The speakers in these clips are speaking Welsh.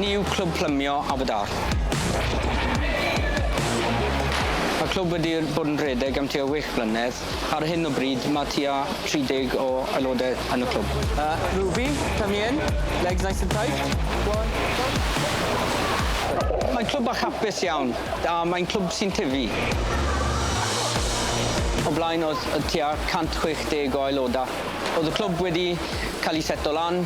Ni yw Clwb Plymio Aberdâr. Mae'r clwb wedi bod yn rhedeg am tua wech blynedd Ar hyn o bryd mae tua 30 o aelodau yn y clwb. Uh, Ruby, come here. Legs nice and tight. Go on, go. Mae'n clwb bach hapus iawn, a mae'n clwb sy'n tyfu. O blaen oedd tua 160 o aelodau. Oedd y clwb wedi cael ei seto lan,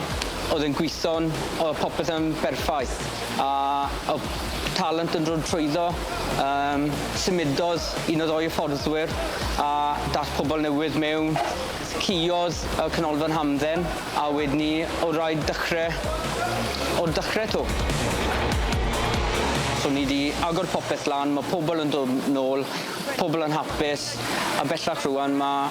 oedd e'n gweithio'n, oedd popeth yn berffaith. a o'dd talent yn dod trwyddo, yym symudodd un o ddou hyfforddwyr a dath pobol newydd mewn, ciodd y Canolfan Hamdden a wedyn 'ny o' raid dechre o'r dechre 'to. So ni 'di agor popeth lan, ma' pobol yn dod nôl, pobol yn hapus a bellach rŵan ma'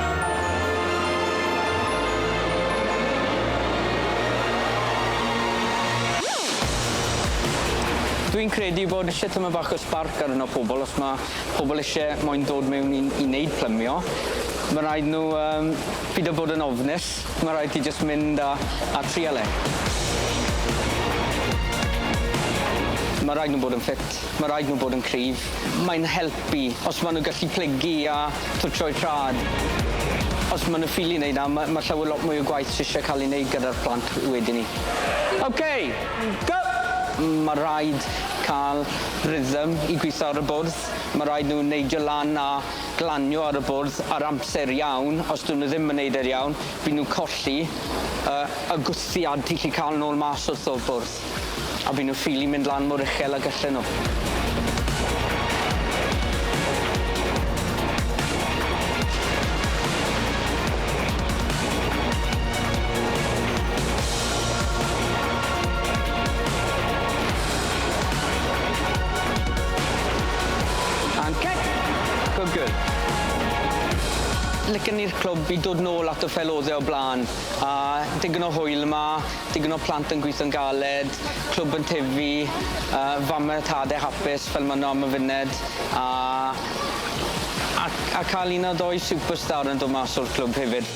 Dwi'n credu bod isie tymed bach o sbarc arno pobl os ma' pobl isie moyn dod mewn i i neud plymio ma' raid nw yym pido bod yn ofnus ma' raid ti jyst mynd a a trial e. Ma' raid nw bod yn ffit ma' raid nw bod yn cryf mae'n helpu os ma' nw gallu plygu a twtsio'u traed. Os ma' nw ffili neud 'na ma' ma' llawer lot mwy o gwaith sy isie ca'l ei neud gyda'r plant wedyn 'ny. Ok! Go! Ma' raid ca'l rhythm i gwitho ar y bwrdd, ma' raid nw neidio lan a glanio ar y bwrdd ar amser iawn, os 'dwn nw ddim yn neud e'n iawn, by' nw'n colli yy y gwthiad ti 'llu ca'l nôl mas wrth o'r bwrdd. A by' nhw ffili mynd lan mor uchel a gyllen nhw. And cut! Good girl. Licen i'r clwb i dod nôl at y ffel o'dd e o bla'n a digon o hwyl yma. digon o plant yn gwitho'n galed, clwb yn tyfu, yy fame a thade hapus fel ma' nw am y funed, a a a ca'l un neu ddou superstar yn dod mas o'r clwb hefyd.